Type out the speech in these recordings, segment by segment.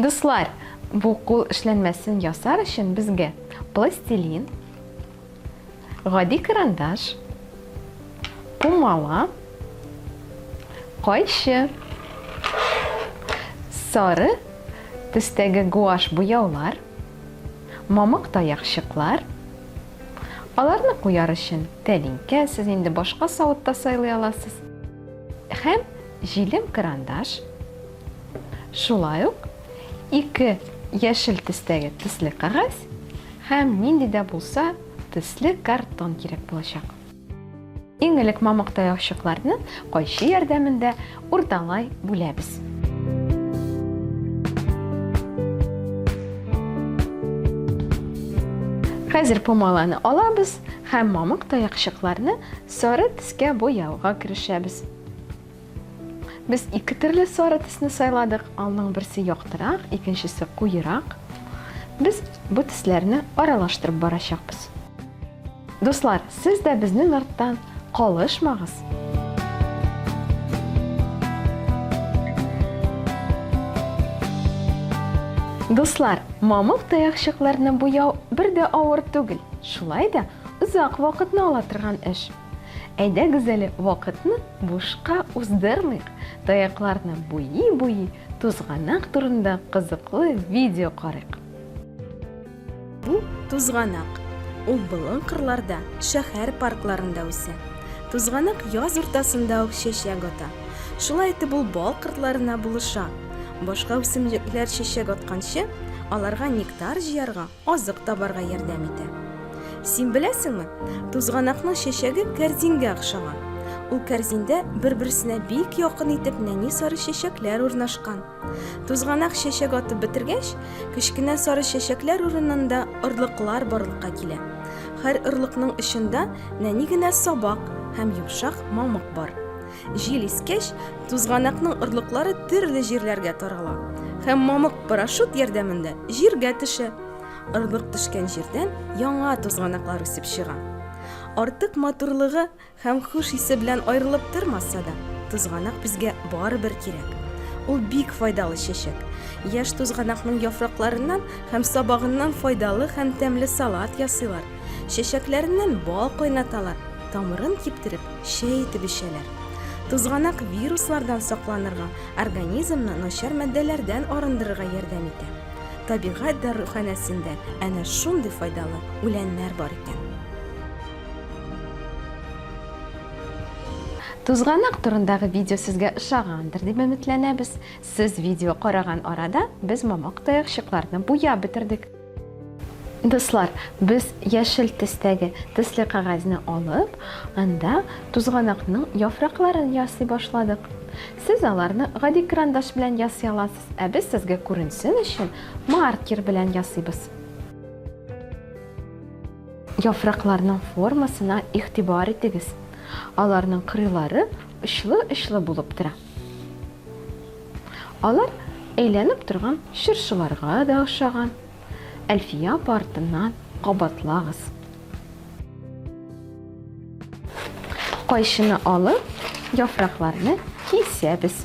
Дуслар, бу кул эшләнмәсен ясар өчен безгә пластилин, гади карандаш, пумала, кайчы, сары төстәге гуаш буяулар, мамык таякчыклар, Аларны куяр өчен тәлинкә, сез инде башка савыт та сайлый аласыз, һәм җилем карандаш, шулай ук ике яшел төстәге төсле кәгазь һәм нинди дә булса төсле картон кирәк булачак. Иң элек мамык таякчыкларны кайчы ярдәмендә урталай бүләбез. Хәзер помаланы алабыз һәм мамык таякчыкларны сары төскә буяуга керешәбез. Без ике төрле сары төсне сайладык. Алның берсе яктырак, икенчесе куерак. Без бу төсләрне аралаштырып барачакбыз. Дуслар, сез дә безнең арттан калышмагыз! Дуслар, мамык таякчыкларны буяу бер дә авыр түгел, шулай да озак вакытны ала торган эш. Әйдәгез әле вакытны бушка уздырмыйк, таякларны буйи-буйи, тузганак турында кызыклы видео карыйк. Бу тузганак. Ул болын кырларда, шәһәр паркларында үсә. Тузганак яз уртасында ук чәчәк ата. Шулай итеп ул бал кыртларына булыша. Башка үсемлекләр чәчәк атканчы, аларга нектар җыярга, Азык табарга ярдәм итә. Син беләсеңме, тузганакның чәчәге кәрзингә охшаган. Ул кәрзиндә бер-берсенә бик якын итеп нәни сары чәчәкләр урнашкан. Тузганак чәчәк атып бетергәч, кечкенә сары чәчәкләр урынында орлыклар барлыкка килә. Хәр орлыкның очында нәни генә сабак һәм йомшак мамык бар. Җил искәч, тузганакның орлыклары төрле җирләргә тарала һәм мамык парашют ярдәмендә җиргә төшә. Орлык төшкән җирдән яңа тузганаклар үсеп чыга. Артык матурлыгы һәм хуш исе белән аерылып тормаса да, тузганак безгә барыбер кирәк. Ул бик файдалы чәчәк. Яшь тузганакның яфракларыннан һәм сабагыннан файдалы һәм тәмле салат ясыйлар. Чәчәкләреннән бал кайнаталар, тамырын киптереп, чәй итеп эчәләр. Тузганак вируслардан сакланырга, организмны начар матдәләрдән арындырырга ярдәм итә. Табигать даруханәсендә әнә шундый файдалы үләннәр бар икән. Тузганак турындагы видео сезгә ошагандыр дип өметләнәбез. Сез видео караган арада без мамык таякчыкларны буяп бетердек. Дуслар, без яшел төстәге төсле кәгазьне алып, анда тузганакның яфракларын ясый башладык. Сез аларны гади карандаш белән ясый аласыз, ә без сезгә күренсен өчен маркер белән ясыйбыз. Яфракларның формасына игътибар итегез. Аларның кырыйлары очлы-очлы булып тора. Алар әйләнеп торган чыршыларга да ошаган. Әлфия апа артыннан кабатлагыз. Кайшыны алып, яфракларны кисәбез.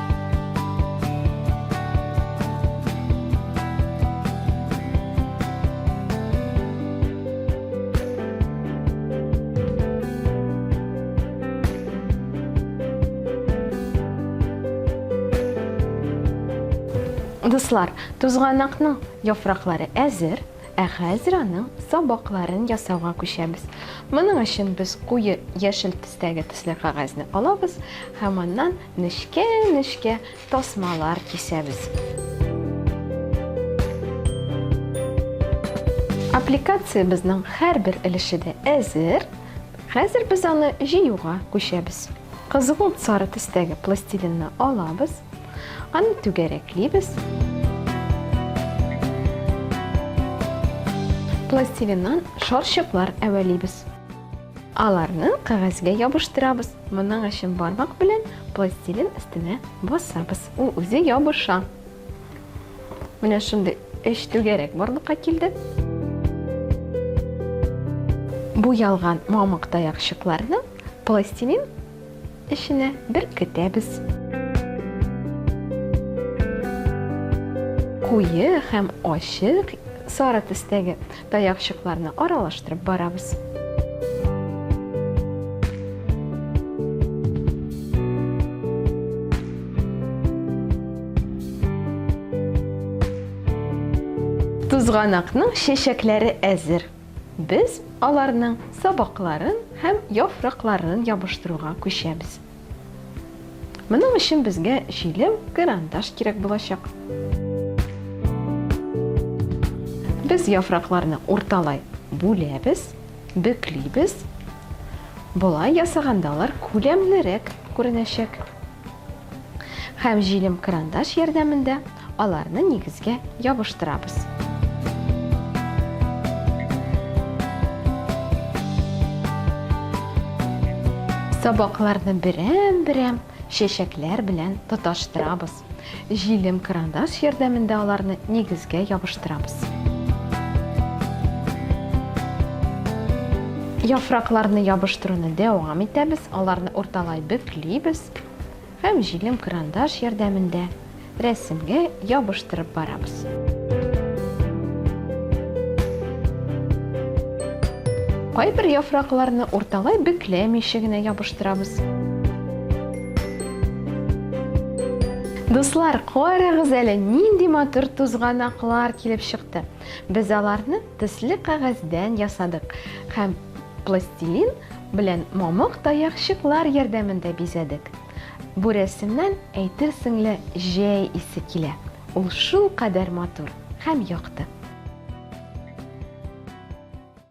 Дуслар, тузганакның яфраклары әзер, ә хәзер аның сабакларын ясауга күчәбез. Моның өчен без куе яшел төстәге төсле кагазны алабыз һәм аннан Нечкә-нечкә тасмалар кисәбез. Аппликациябезнең һәрбер өлеше дә әзер. Хәзер без аны җыюга күчәбез. Кызгылт сары төстәге пластилинны алабыз. Аны түгәрәклибез. Пластилиннан шарчыклар әвәлибез. Аларны кәгазьгә ябыштырабыз. Моның өчен бармак белән пластилин өстенә басабыз. Ул үзе ябыша. Менә шундый өч түгәрәк барлыкка килде. Буялган мамык таякчыкларны пластилин Эченә беркетәбез. Куе һәм ачык сары төстәге таякчыкларны аралаштырып барабыз. Тузганакның чәчәкләре әзер. Без аларның сабакларын һәм яфракларын ябыштыруга күчәбез. Моның өчен безгә җилем, карандаш кирәк булачак. Без яфракларны урталай бүләбез, бөклибез. Болай ясаганда алар күләмлерәк күренәчәк. Һәм җилем крандаш ярдәмендә аларны нигезгә ябыштырабыз. Сабакларны берәм-берәм чәчәкләр белән тоташтырабыз. Җилем крандаш ярдәмендә аларны нигезгә ябыштырабыз. Яфракларны ябыштыруны дәвам итәбез, аларны урталай бөклибез һәм җилем крандаш ярдәмендә рәсемгә ябыштырып барабыз. Кайбер яфракларны урталай бөкләмичә генә ябыштырабыз. Дуслар, карагыз әле, нинди матур тузганаклар килеп чыкты. Без аларны төсле кәгазьдән ясадык һәм пластилин белән мамык таякчыклар ярдәмендә бизәдек. Бу рәсемнән әйтерсеңле җәй исе килә. Ул шул кадәр матур һәм якты.